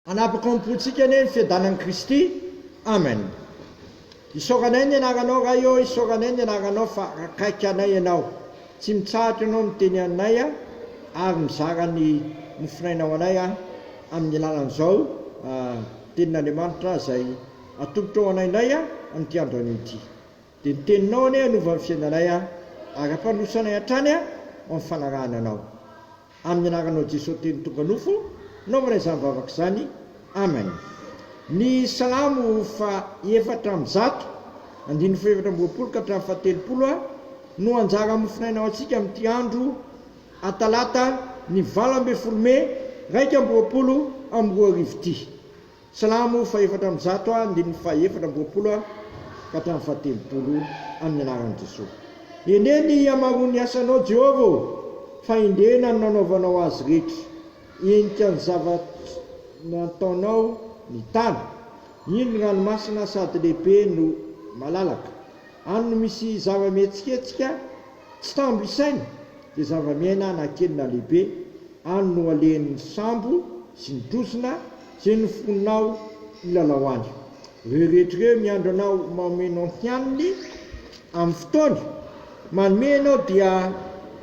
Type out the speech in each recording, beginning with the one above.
Hanapaka ao am-pontsika anie ny fiadanan'i Kristy. Amen. Isaoranay ny Anaranao, Ray ô, isaoranay ny Anaranao fa akaiky anay Ianao. Tsy mitsahatra Ianao miteny anay ary mizara ny mofonainao anay amin'ny alalan'izao Tenin'Andriamanitra izay atolotra ho anay indray amin'ity andro anio ity. Dia ny Teninao anie hanova ny fiainanay ary hampandroso anay hatrany ao amin'ny fanarahana Anao. Amin'ny anaranao Jeso teny tonga nofo naovana izany vavaka izany Amen Ny salamo fa efatra amby zato andininy fa efatra amby roapolo ka hatramin'ny fa telopolo a no anjara mofonaina ho antsika amin'ity andro a talata ny valo ambin'ny folo mey raika amby roapolo amby roa arivo ity. Silamo fahefatra amby zato ha, andininy fahefatra amby roapolo ha, ka hatramin'ny fahatelopolo, amin'ny anaran'i Jesoa. Hendrey ny hihamaroan'ny asanao, Jehovah ô, fa hendrena ny nanaovanao azy rehetra. Henika ny zavatra nataonao ny tany. Iny ny ranomasina sady lehibe no malalaka. Any no misy zava-mihetsiketsika Tsy tambo isaina dia zava-miaina na kely na lehibe any no alehan'ny sambo sy ny trozona izay nofoninao hilalao any. Ireo rehetra ireo miandry anao maomeno ny hianiny amin'ny fotoany manome ianao dia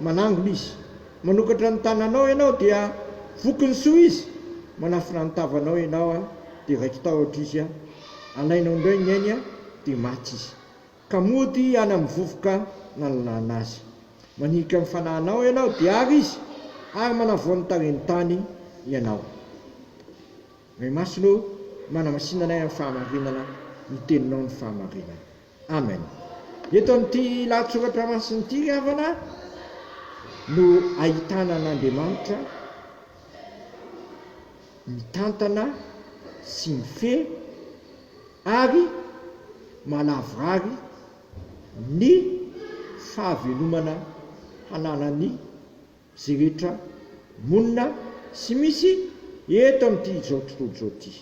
manangona izy. Manokatra ny tananao ianao dia voky ny soa izy, manafina ny tavanao ianao dia raiki-tahotra izy, alainao indray ny ainy dia maty izy. Ka mody any amin'ny vovoka nananahana azy. Manilika ny fanahinao ianao, dia àry izy, ary manavao ny tarehin'ny tany ianao. Ray Masina ô, manamasina anay amin'ny fahamarinana ny Teninao ny fahamarinana. Amen. Eto amin'ity lahatsoratra masina ity, ry havana, no ahitana an'Andriamanitra mitantana sy mifehy ary malavorary ny fahavelomana hananan'ny ze rehetra monina sy misy eto amin'ity izao tontolo izao ity.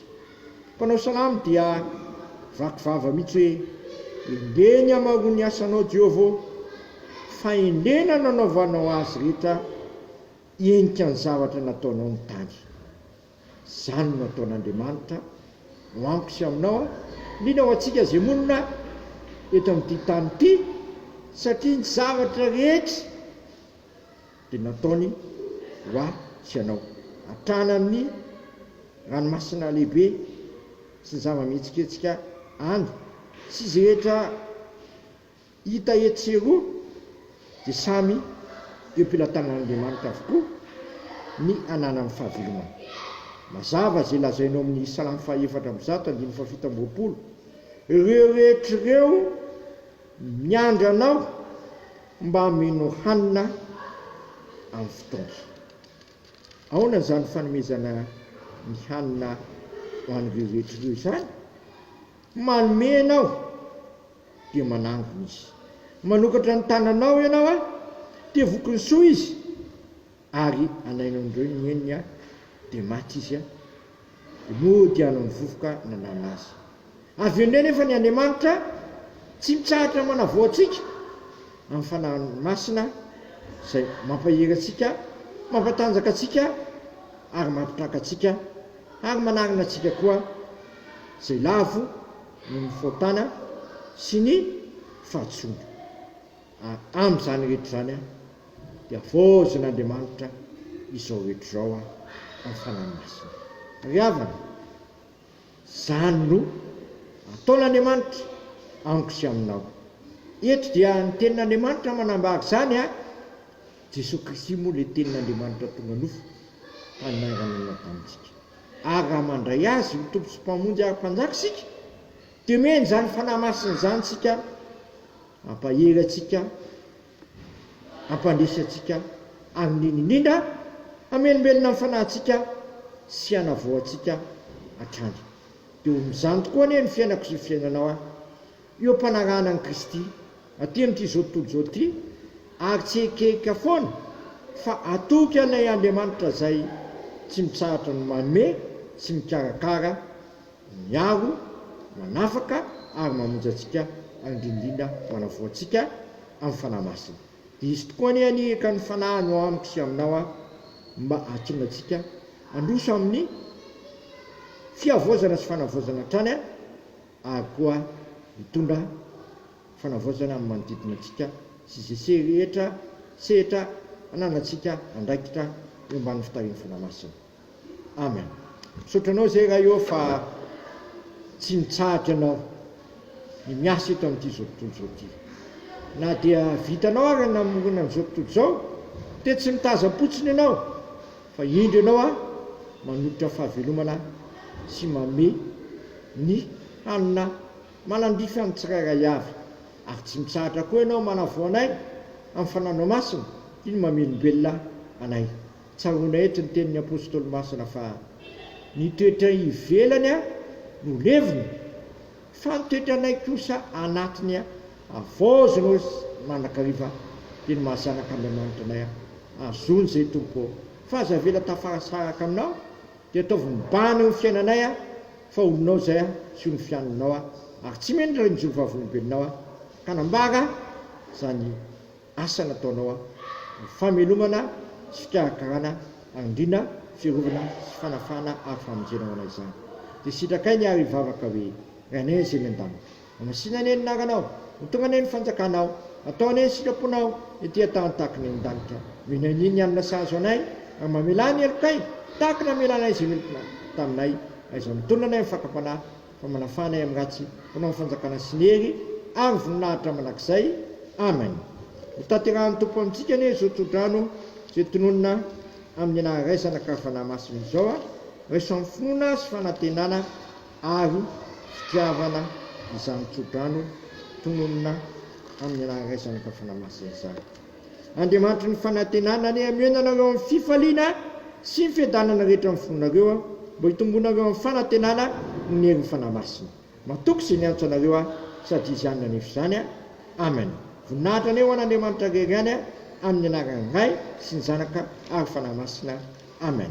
Mpanao salamo dia vaky vava mihitsy hoe, Endrey ny hamaroan'ny asanao Jehovah ô, fahendrena nanaovanao azy rehetra hihenika ny zavatra nataonao ny tany. Izany no ataon'Andriamanitra ho amiko sy aminao, indrindra ho antsika izay monina eto amin'ity tany ity, satria ny zavatra rehetra dia nataony ho ahy sy anao, hatrany amin'ny ranomasina lehibe sy ny zava-mihetsiketsika any, sy izay rehetra Hita etsy sy eroa dia samy eo am-pelatanan'Andriamanitra avokoa ny ananan'ny fahavelomana. Mazava izay lazainao amin'ny Salamo fahaefatra amby zato andininy fahafito amby roapolo, Ireo rehetra ireo miandry Anao mba hameno hanina amin'ny fotoany. Aona izany fanomezana ny hanina ho an'ireo rehetra ireo izany? Manome ianao, dia manangona izy. Manokatra ny tananao ianao, dia voky ny soa izy, ary anainon'ireo ny henony, dia maty izy, dia mody hanao ny vovoka nananona azy. Avy eo indray anefa ny Andriamanitra tsy mitsahatra manavao antsika amin'ny fanahiny masina, izay mampahery antsika, mampatanjaka antsika, ary mampitraka antsika, ary manarina antsika koa. izay lavo noho ny fahotana sy ny fahadisoana. Ary amin'izany rehetra izany dia havaozin'Andriamanitra izao rehetra izao amin'ny Fanahy Masina. Ry havana, izany no ataon'Andriamanitra amiko sy aminao. Eto dia ny tenin'Andriamanitra manambara izany ary Jesoa Kristy moa ilay tenin'Andriamanitra tonga nofo ka nainganina tamintsika. Ary raha mandray Azy ho Tompo sy Mpamonjy ary Mpanjaka isika, dia omeny izany Fanahy Masina izany isika hampahery antsika, hampandresy antsika, ary indrindra indrindra hamelombelona ny fanahintsika sy hanavao antsika hatrany. Dia ho amin'izany tokoa anie ny fiainako sy ny fiainanao an! Eo am-panarahana an'i Kristy aty amin'itrizao tontolo izao ity, ary tsy ekeka foana fa hatoky anay Andriamanitra izay tsy mitsahatra ny manome sy mikarakara, miaro, manafaka ary mamonjy antsika ary indrindrindra manavoa antsika amin'ny Fanahy Masina. Dia izy tokoa anie anie ekan'ny Fanahiny ao amiko sy aminao aho mba hahatonga antsika handroso amin'ny fihavaozana sy fanavaozana hatrany ary koa mitondra fanavaozana amin'ny manodidina antsika sy izay sehy rehetra sehatra hananantsika andraikitra eo ambanin'ny fitarihan'ny Fanahy Masina. Amen. Misaotra anao izay Ray ô fa tsy mitsahatra ianao ny miasa eto amin'ity izao tontolo izao ity. Na dia vitanao ary ny namorona an'izao tontolo izao dia tsy mitazam-potsiny ianao. Fa indro ianao aho manolotra fahavelomana sy manome ny hanina manandrify amin'ny tsirairay avy, ary tsy mitsahatra koa ianao manavao anay amin'ny fananao masina toy ny mamelombelona anay. Tsaroana eto ny tenin'ny apostoly masina fa, Ny toetray ivelany no levona. Fa ny toetranay kosa anatiny avaozina oz mandrakariva dia ny maha zanak Andriamanitra anay aho azony zay Tompo ô fa aza avela tafarasaraka aminao dia ataovy mibahana eo ny fiainanay aho fa olonao zay aho sy ony fianonao aho ary tsy mino raha injoro vavolombelonao aho ka nambara zany Asa nataonao an! Ny famelomana sy fikarakarana andriana, fiarovana sy fanafahana ary famonjena ho anay izany. Dia sitrakay ny ary hivavaka hoe, Rainay Izay eny an-danitra. Hamasina anie ny anaranao. Hotonga anie ny fanjakanao. Hatao anie ny sitraponao ety an-tahan-tahaky ny an-danitra. Omena anie ny hanina sahaza anay, ary mamelà ny helokay, tahaka ny namelànay izay meloka taminay, raha izao mitonona anay amin'ny fakam-panahy. Fa manafana ahy amin'ny ratsy, Mpanao ny fanjakana sy ny hery, Ary voninahitra mandrakizay. Amen. Hotanterahin'ny Tompo amintsika anie izao tsodrano izay tononina amin'ny anaran'ny Ray, Zanaka ary Fanahy Masina izao a! Raisan'ny finoana sy fanantenana ary fitiavana izany tsodrano tononina amin'ny anaran'ny Ray, Zanaka ary Fanahy Masina izany. Andriamanitry ny fanantenana anie hameno anareo amin'ny fifaliana sy ny fiadanana rehetra amin'ny fonareo aho, mba hitombonareo amin'ny fanantenana noho ny herin'ny Fanahy Masina. Matoky izay niantso anareo aho, sady Izy ihany nanefa izany. Amen. Voninahitra anie ho an'Andriamanitra Ray ihany amin'ny anaran'ny Ray sy ny Zanaka ary Fanahy Masina. Amen.